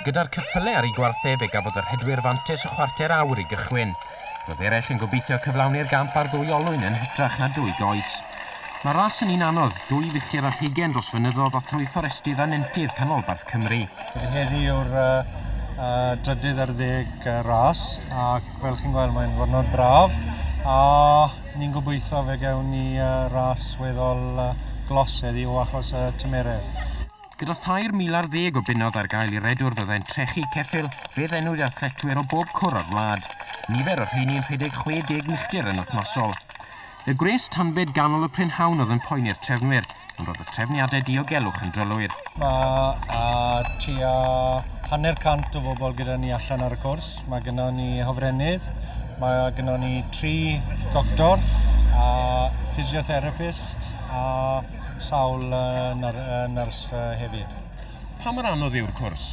Gyda'r cyffyle ar ei gwartheg fe gafodd y rhedwyr fantes y chwarter awr i gychwyn. Roedd eraill yn gobeithio cyflawni'r gamp ar ddwy olwyn yn hytrach na dwy goes. Mae ras yn un anodd, dwy filltir ar hugen dros fynyddodd a thrwy fforestydd a nentydd canolbarth Cymru. Heddi yw'r uh, uh, drydydd ar ddeg uh, ras ac fel chi'n gweld mae'n ddiwrnod braf a ni'n gobeithio fe gewn ni uh, ras weddol uh, glos heddi o achos y uh, tymeredd. Gyda thair mil ar ddeg o bunnoedd ar gael i redwr fyddai'n trechu ceffyl fe ddennwyd athletwyr o bob cwr o'r wlad, nifer o'r rheini'n rhedeg 60 milltir yn wythnosol. Y gwres tanbed ganol y prynhawn oedd yn poeni'r trefnwyr, ond roedd y trefniadau diogelwch yn drylwyr. Mae tua hanner cant o bobl gyda ni allan ar y cwrs. Mae gyda ni hofrennydd, mae gyda ni tri doctor, a physiotherapist, a sawl nyrs hefyd. Pa mor anodd yw'r cwrs?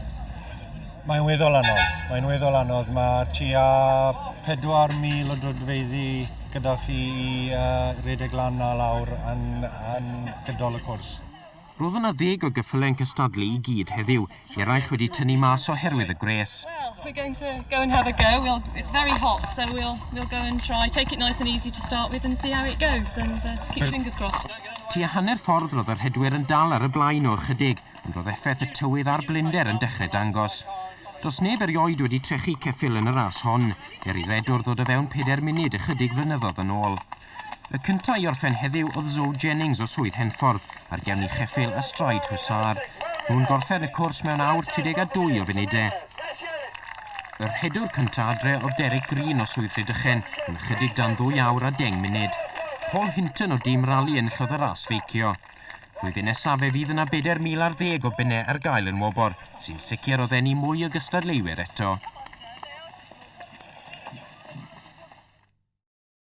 Mae'n weddol anodd. Mae'n weddol anodd. Mae tua 4,000 o drydfeiddi gyda chi i uh, redeg lan a lawr yn, yn gydol y cwrs. Roedd yna ddeg o geffylau yn cystadlu i gyd heddiw. Eraill wedi tynnu mas oherwydd y gwres. Well, we're going to go and have a go. We'll, it's very hot, so we'll, we'll go and try. Take it nice and easy to start with and see how it goes and uh, keep your fingers crossed. Tua hanner ffordd roedd y rhedwyr yn dal ar y blaen o ychydig, ond roedd effaith y tywydd a'r blinder yn dechrau dangos. Does neb erioed wedi trechu ceffyl yn y ras hon, er i redwr ddod o fewn peder munud ychydig flynyddoedd yn ôl. Y cyntaf i orffen heddiw oedd Zoe Jennings o Swydd Henffordd ar gefn i cheffyl y Stride Hussar. Nhw'n gorffen y cwrs mewn awr 32 o funudau. Y rhedwr cyntaf adre oedd Derek Green o Swydd Rhydychen yn ychydig dan ddwy awr a deng munud. Paul Hinton o dîm rali yn llwyd y ras feicio. Flwyddyn nesaf fe fydd yna 4,000 ar ddeg o bunnau ar gael yn wobor, sy'n sicr o ddenu mwy o gystadleuwyr eto.